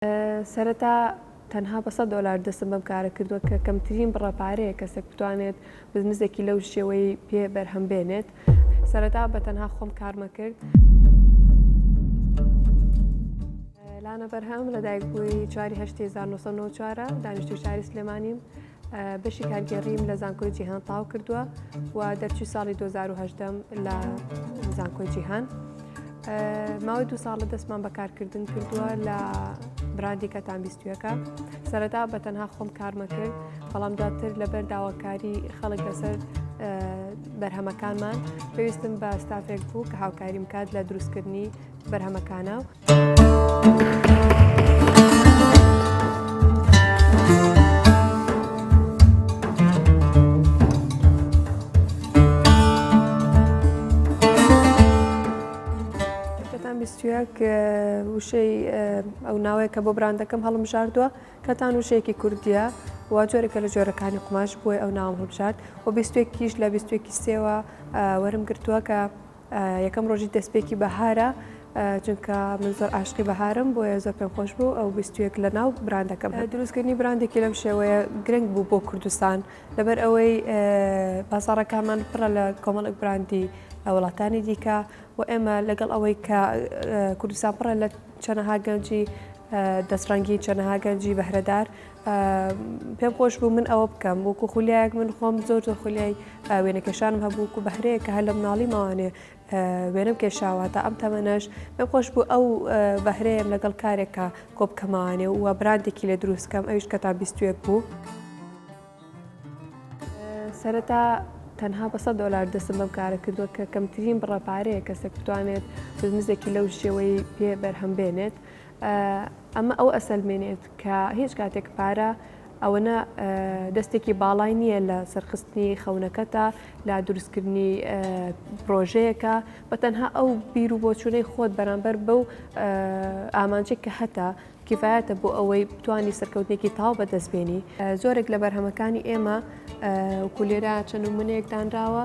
سەرەتا تەنها بە سەد دۆلار دەستم بەم کارە کردووە کە کەمترین بڕە پارەیە کەسێک بتوانێت بزنسێکی لەو شێوەی پێ بەرهەم بێنێت سەرەتا بە تەنها خۆم کارمە کرد. لانە بەرهەم لە دایک بووی چواری هەشتی 1994 دانیشتوی شاری سلێمانیم بەشی کارگێڕیم لە زانکۆی جیهان تاو کردووە و دەرچوی ساڵی 2010 لە زانکۆی جیهان ماوەی دو ساڵە دەستمان بەکارکردن کردووە لە براندی کە تامبیستویەکە سەرەتا بە تەنها خۆم کارمە کرد بەڵام دواتر لەبەر داواکاری خەڵک لەسەر بەرهەمەکانمان پێویستم بە ستافێک بوو کە هاوکاریم کات لە دروستکردنی بەرهەمەکانە وشەیەک وشەی ئەو ناوەیە کە بۆ براندەکەم هەڵم ژاردووە کەتان وشەیەکی کوردیە و جۆرەکە لە جۆرەکانی قوماش بووە ئەو ناوم هەڵبژارد و بیستێکیش لە بیستێکی سێوە وەرم گرتووە کە یەکەم ڕۆژی دەستپێکی بەهارە چونکە من زۆر عاشقی بەهارم بۆیە زۆر پێم خۆش بوو ئەو بیستویەک لە ناو براندەکەم دروستکردنی براندێکی لەم شێوەیە گرنگ بوو بۆ کوردستان لەبەر ئەوەی بازارەکانمان پڕە لە کۆمەڵک براندی وڵاتانی دیکە و ئێمە لەگەڵ ئەوەی کە کوردستان پڕە لە چەنەها گەنجی دەستڕەنگی چەنەها گەنجی بەهرەدار پێم خۆش بوو من ئەوە بکەم وەکو خولیایەک من خۆم زۆر زۆر خولیای وێنەکەشانم هەبوو و بەهرەیە کە هەر لە مناڵی ماوانێ وێنم کێشاوە تا ئەم تەمەنەش پێم خۆش بوو ئەو بەهرەیەم لەگەڵ کارێکە کۆبکەمانێ و براندێکی لە دروستکەم ئەوش کە تا بیستوێک بوو. سەرەتا تەنها بە سە دۆلار دەسم بەم کارە کردووە کە کەمترین بڕە پارەیە کەسێک بتوانێت بزنزێکی لەو شێوەی پێ بەرهەم بێنێت ئەمە ئەوە ئەسەلمێنێت کە هیچ کاتێک پارە ئەوەنە دەستێکی باڵای نییە لە سەرخستنی خەونەکەتە لە دروستکردنی پرۆژەیەەکە بە تەنها ئەو بیر و بۆچوونەی خۆت بەرامبەر بەو ئامانجێک کە هەتا کیفاەتە بۆ ئەوەی بتانی سەرکەوتێکی تاو بەدەست بێنی زۆرێک لە بەرهەمەکانی ئێمە کوولێرا چەند و منێک دانراوە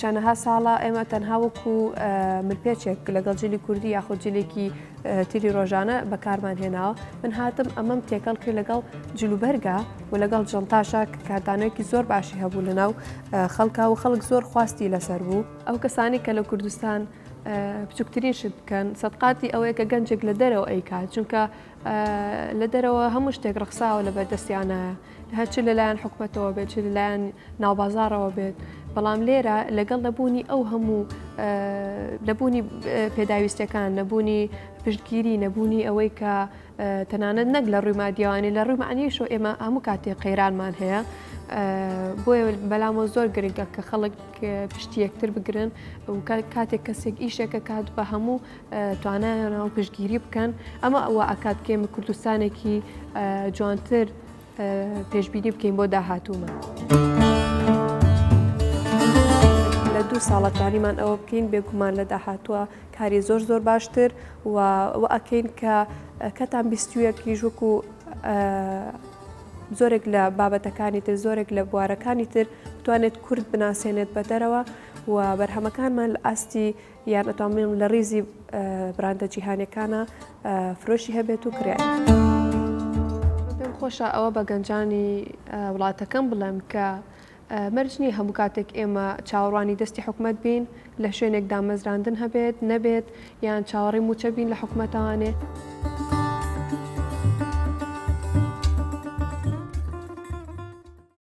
چەنەها ساڵە ئێمە تەنها وەکو ملپێچێک لەگەڵ جلی کوردی یاخود جلێکی تیری ڕۆژانە بەکارمان هێناوە من هاتم ئەمەم تێکەڵ کرد لەگەڵ جلوبەرگا و لەگەڵ جنتاشا کاردانەوەیکی زۆر باشی هەبوو لە ناو خەڵکا و خەڵک زۆر خواستی لەسەر بوو ئەو کەسانی کە لە کوردستان بچووکترین شت بکەن سەدقاتی ئەوەیە کە گەنجێک لە دەرەوە ئەیکات چونکە لە دەرەوە هەموو شتێک ڕخساوە لە بەردەستیانە هەر چ لەلایەن حکومەتەوە بێت چ لەلایەن ناوبازارەوە بێت بەڵام لێرە لەگەڵ نەبوونی ئەو هەموو نەبوونی پێداویستەکان نەبوونی پشتگیری نەبوونی ئەوەی کە تەنانەت نەک لە ڕووی مادیوانی لە ڕووی معنیشۆ ئێمە هەموو کاتێ قەیرانمان هەیە بۆیە بەلامەوە زۆر گرنگە کە خەڵک پشتی یەکتر بگرن و کاتێک کەسێک ئیشەکە کات بە هەموو توانایانەوە پشتگیری بکەن ئەمە ئەوە ئاکات کێمە کوردستانێکی جوانتر پێشبینی بکەین بۆ داهاتوومە. دوو ساڵە توانیمان ئەوە بکەین بێگومان لە داهاتووە کاری زۆر زۆر باشتر و ئەکەین کە کەتان بیستویەکیش وەکو زۆرێک لە بابەتەکانی تر زۆرێک لە بوارەکانی تر بتوانێت کورد بناسێنێت بە دەرەوە و بەرهەمەکانمان لە ئاستی یان ئەتوانبڵێم لە ڕیزی براندە جیهانیەکانە فرۆشی هەبێت و کرێ. خۆشە ئەوە بە گەنجانی وڵاتەکەم بڵێم کە مەرج نییە هەموو کاتێک ئێمە چاوەڕوانی دەستی حکومت بین لە شوێنێک دامەزراندن هەبێت نەبێت یان چاوەڕی موچە بین لە حکومەتانێ.